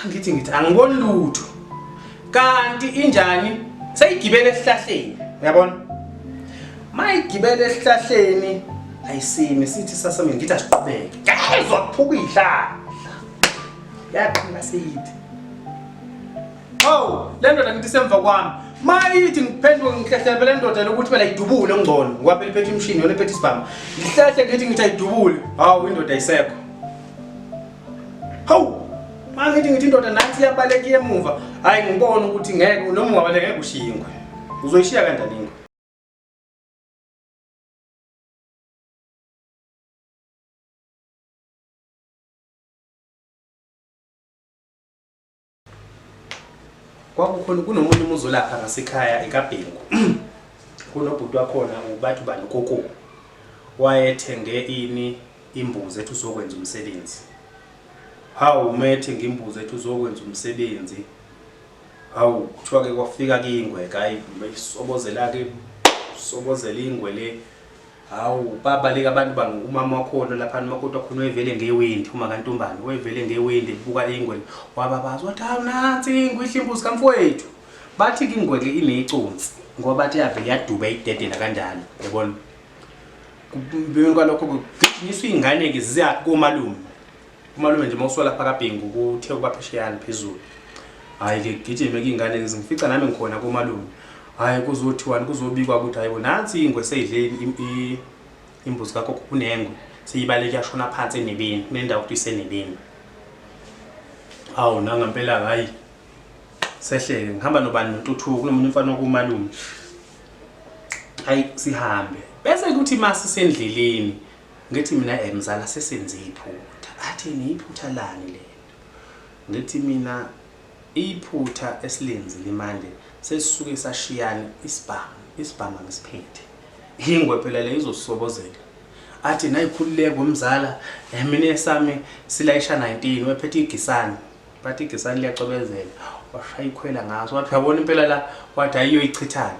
Ngithi ngithi angiboni lutho. Kanti injani seyigibele esihlahleni uyabona? Mayigibele esihlahleni ayisimi sithi sasame ngithi asiqhubeke. Ngezwa kuphuka ihlala. Yaqhina siyithi. Oh, le ndoda ngithi semva kwami. Mayithi ngiphenduke ngihlehlebe le ndoda lokuthi phela idubule ngcono. Ngoba phela iphethe imshini yona iphethe isibhamu. Ngihlehle ngithi ngithi ayidubule. Hawu indoda ayisekho. Hawu! Manje ngithi ngithi indoda nathi iyabaleka emuva. Hayi ngibona ukuthi ngeke noma ungabaleka ngeke ushiye ingwe. Uzoyishiya kanjani ingwe? kwakukhona kunomunye umuzi olapha ngasekhaya ekabhengu kunobhuti wakhona ubathi ubani ukoko wayethenge ini imbuzi ethi uzokwenza umsebenzi hawu uma ethenge imbuzi ethi uzokwenza umsebenzi hawu kuthiwa-ke kwafika kingwe kayi sobozela-ke sobozela ingwe le Hawu baba lika abantu bangu umama wakhona lapha umakoti wakhona wevele ngewindi uma kantombane wevele ngewindi buka ingwe wababaza wathi hawu nansi ingwe ihlimbuzi kamfowethu bathi ingwe ke ineconsi ngoba bathi yavele yaduba idedela kanjalo yabona kubeni kwalokho kugijinyiswa ingane ke ziya komalume Umalume nje mawusuka lapha kaBhengu kuthe ukuba phesheyana phezulu. Hayi ke gijime kingane ngizifica nami ngikhona komalume. Hayi kuzothiwani kuzobikwa ukuthi hayibo nansi ingwe seyidle imbuzi kakho kunengwe seyibale kuyashona phansi enebeni kunendawo ukuthi isenebeni. Hawu nanga impela hayi sehleke ngihamba nobani notuthuku kunomunye umfana wakumalume. Hayi sihambe bese kuthi masisendleleni Ngithi mina eh mzala sesenze iphutha. Athini iphutha lani lelo? Ngithi mina iphutha esilenzile manje sesisuke sashiyana isibhamu, isibhamu angisiphethe. Ingwe phela le izosisobozela. Athi nayi khululeko mzala eh mina esami silayisha 19 wephethe igisani. Bathi igisani liyacwebezela washaya ikhwela ngaso wathi uyabona impela la wathi ayiyoyichithani.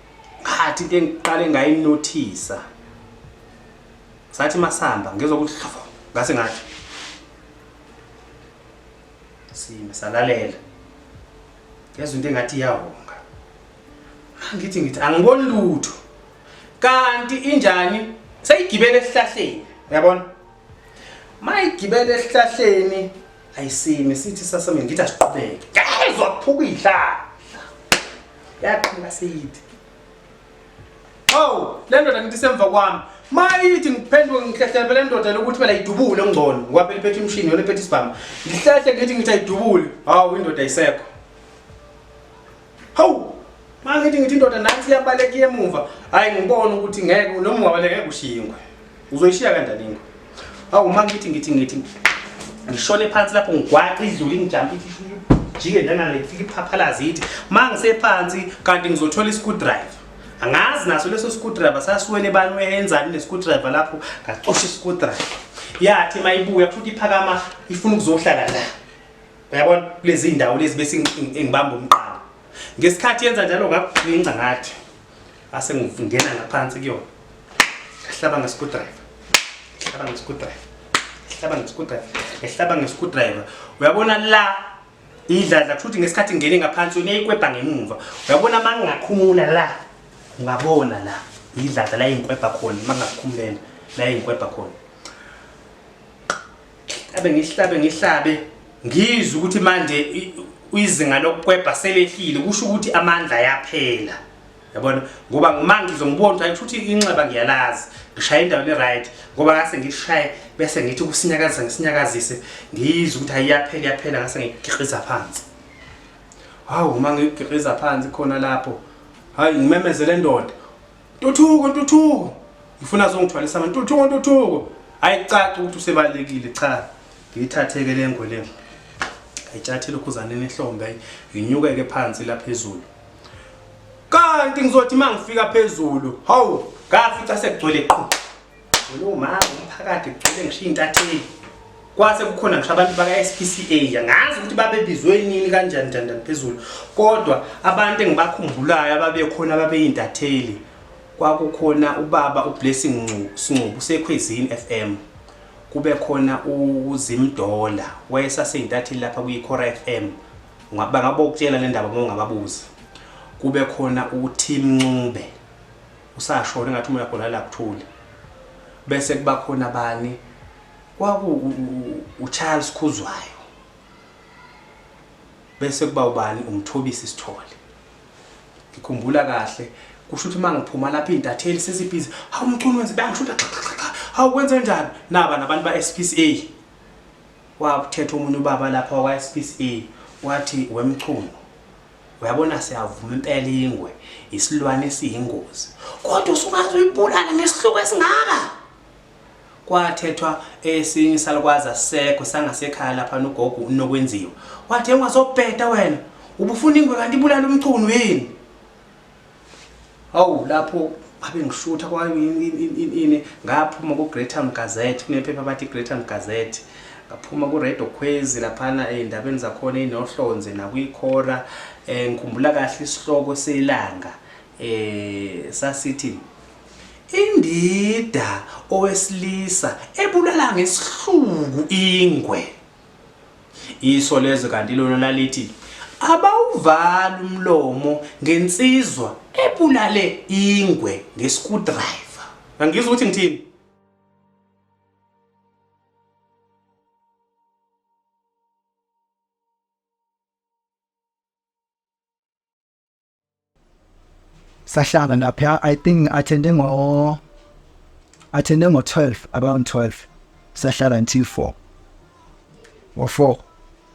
Ngathi into engiqale ngayinothisa. Sathi masamba ngizwa ukuthi hlafo ngase ngathi. Sime salalela. Ngezwe into engathi iyahonga. Ngithi ngithi angiboni lutho. Kanti injani seyigibele esihlahleni. Uyabona? Mayigibele esihlahleni ayisime sithi sasame ngithi asiqhubeke. Ngezwa kuphuka ihlala. yaqhela seyithi oh le ndoda ngithi semva kwami mayithi ngiphenduke ngihlehlebe le ndoda lokuthi phela idubule ngcono ngoba eliphethe umshini yona ephethe isibhamu ngihlehle ngithi ngithi ayidubule hawu indoda isekho hawu mangithi ngithi indoda nansi iyabaleka emuva hayi ngibona ukuthi ngeke noma ungabaleka ngeke ushingwe Uzoyishiya kanjani ingwe? Hawu uma ngithi ngithi ngithi ngishone phansi lapho ngigwaqa idlule ngijampa jike lana lifika iphaphalazi yithi uma ngisephansi kanti ngizothola i-screwdriver angazi naso leso screwdriver sasiwele bani weyenzani ne-screwdriver lapho ngacosha i-screwdriver yathi uma ibuya futhi iphakama ifuna ukuzohlala la uyabona kulezi ndawo lezi bese engibamba umqala ngesikhathi yenza njalo ngakugcinca ngathi ase ngingena ngaphansi kuyona ngihlaba ngescrewdriver ngihlaba ngescrewdriver ngihlaba ngescrewdriver ngihlaba ngescrewdriver uyabona la idladla kusho ukuthi ngesikhathi ngingene ngaphansi yona ikwebha ngemuva uyabona uma ngingakhumula la ungabona la idladla la ingikwebha khona uma ngingakhumulela la ingikwebha khona abe ngihlabe ngihlabe ngizwe ukuthi manje izinga lokukwebha selehlile kusho ukuthi amandla ayaphela yabona ngoba uma ngizombona ukuthi ayisho ukuthi inxeba ngiyalazi ngishaye endaweni right ngoba ngase ngishaye bese ngithi kusinyakazisa ngisinyakazise ngiyizwe ukuthi ayiyaphela iyaphela ngase ngigikhiza phansi hawu uma ngigikhiza phansi khona lapho hayi ngimemezele ndoda ntuthuko ntuthuko ngifuna zongithwalisa abantu ntuthuko ntuthuko hayi caca ukuthi usebalekile cha ngiyithatheke le ngwe le ayitshathile ukhuzane nehlombe ayinyukeke phansi la phezulu kanti ngizothi uma ngifika phezulu hawu ngafica sekugcwele qhu lo mama umphakathi kugcwele ngishiya intatheli kwase kukhona ngisho abantu baka-spca angazi ukuthi babebizwe nini kanjani njani phezulu kodwa abantu engibakhumbulayo ababekhona ababeyintatheli kwakukhona ubaba ublessing sincubu sekhwezini f m kube khona uzimdola wayesaseyintatheli lapha kwi-cora f m bangabokutshela le ndaba uma ungababuzi kube khona uTim Ncube usashona engathi umoya khona la kuthule bese kuba khona bani kwaku uCharles Khuzwayo bese kuba ubani umthobisi sithole ngikhumbula kahle kusho ukuthi mangiphuma lapha intatheli sesibhizi hawu mchunu wenze bangisho ukuthi hawu kwenze njani naba nabantu ba SPCA Kwakuthetha omunye ubaba lapha wakwaSPCA wathi, WeMchunu, uyabona siyavuma impela ingwe isilwane esiyingozi kodwa usungaze uyibulale ngesihluku esingaka. Kwathethwa esinye isalukwazi asisekho sangasekhaya lapha nogogo uNokwenziwa wathi, Engwazobheda wena, ubufuna ingwe kanti ibulala uMchunu yini? Hawu lapho abe ngishutha kwayo ini ngaphuma ku Greytown Gazette kunephepha abathi Greytown Gazette ngaphuma ku Radio Khwezi laphana eindabeni zakhona inohlonze nakwikhora eh ngikhumbula kahle isihloko selanga eh sasithi indida owesilisa ebulala ngesihluku ingwe Isolezwe kanti lona lalithi abawuvali umlomo ngensizwa ebulale ingwe ngescrewdriver. Angizwa ukuthi ngithini. sahlala lapha i think athende ngo athende ngo 12 around 12 sahlala until 4 ngo 4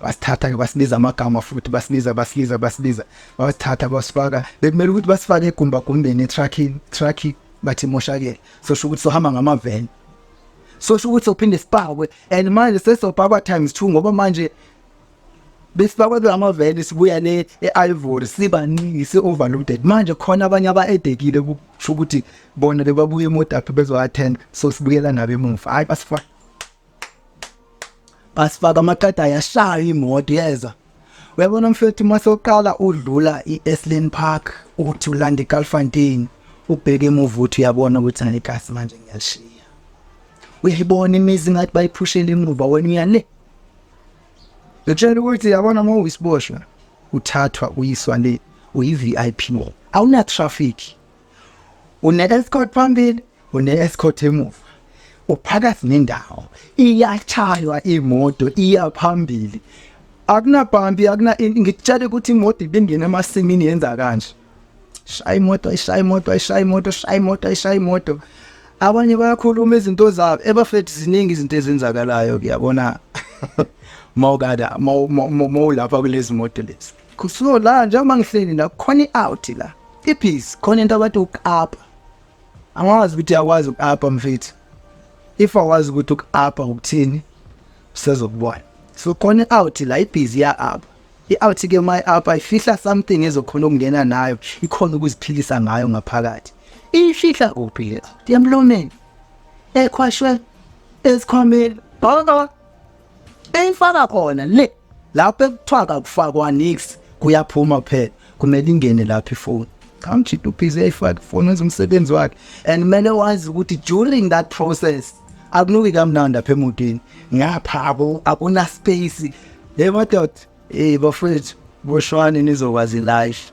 basithatha ke basibiza amagama futhi basibiza basibiza basibiza basithatha basifaka bekumele ukuthi basifake egumba gumbeni trucking trucking bathi moshakele so sho ukuthi sohamba ngamaveni so sho ukuthi sophinde sipakwe and manje sesopakwa times 2 ngoba manje besifakwe kulamaveni sibuya le e-ivory sibaningi si-overloaded manje khona abanye aba-edekile kusho ukuthi bona bebabuye emodaphi bezo-attend so sibuyela nabo emuva hhayi basifaka basifaka amaqeda ayashaya imoto yeza uyabona mfethu uma soqala udlula i-eslin park uthi ulanda igalfontein ubheke emuva uthi uyabona ukuthi anigasi manje ngiyalishiya uyayibona imizi ngathi bayiphushele emuva wena uyale Ngitshela ukuthi yabona uma uyisiboshwa uthathwa uyiswa le uyi-VIP awuna traffic une escort phambili une escort emuva uphakathi nendawo iyachaywa imoto iya phambili akunabhambi akuna ngikutshela ukuthi imoto ibingena emasimini yenza kanje shaya imoto ishaya imoto ishaya imoto shaya imoto ishaya imoto abanye bayakhuluma izinto zabo ebafethu ziningi izinto ezenzakalayo kuyabona mawukada mawulapha kulezi moto lezi kusuko la njengoba ngihleli la khona i-out la iphisi khona into abathi uku-apa angazi ukuthi yakwazi uku-apa mfethu if awazi ukuthi uku-apa ukuthini sezokubona so khona i-out la ibhizi ya-apa I-out ke my up ayifihla something ezokhona ukungena nayo ikhona ukuziphilisa ngayo ngaphakathi iyifihla kuphi le out emlomeni ekhwashwe esikhwameni bhaka eyifaka khona le lapho ekuthiwa kakufakwa nix kuyaphuma kuphela kumele ingene lapho ifoni kamjita ubhizi eyayifaka ifoni wenza umsebenzi wakhe and kumele wazi ukuthi during that process akunuki kamnandi apha emotweni ngapha akunaspace Hey madoda, hey bafethu, boshwani nizokwazi life.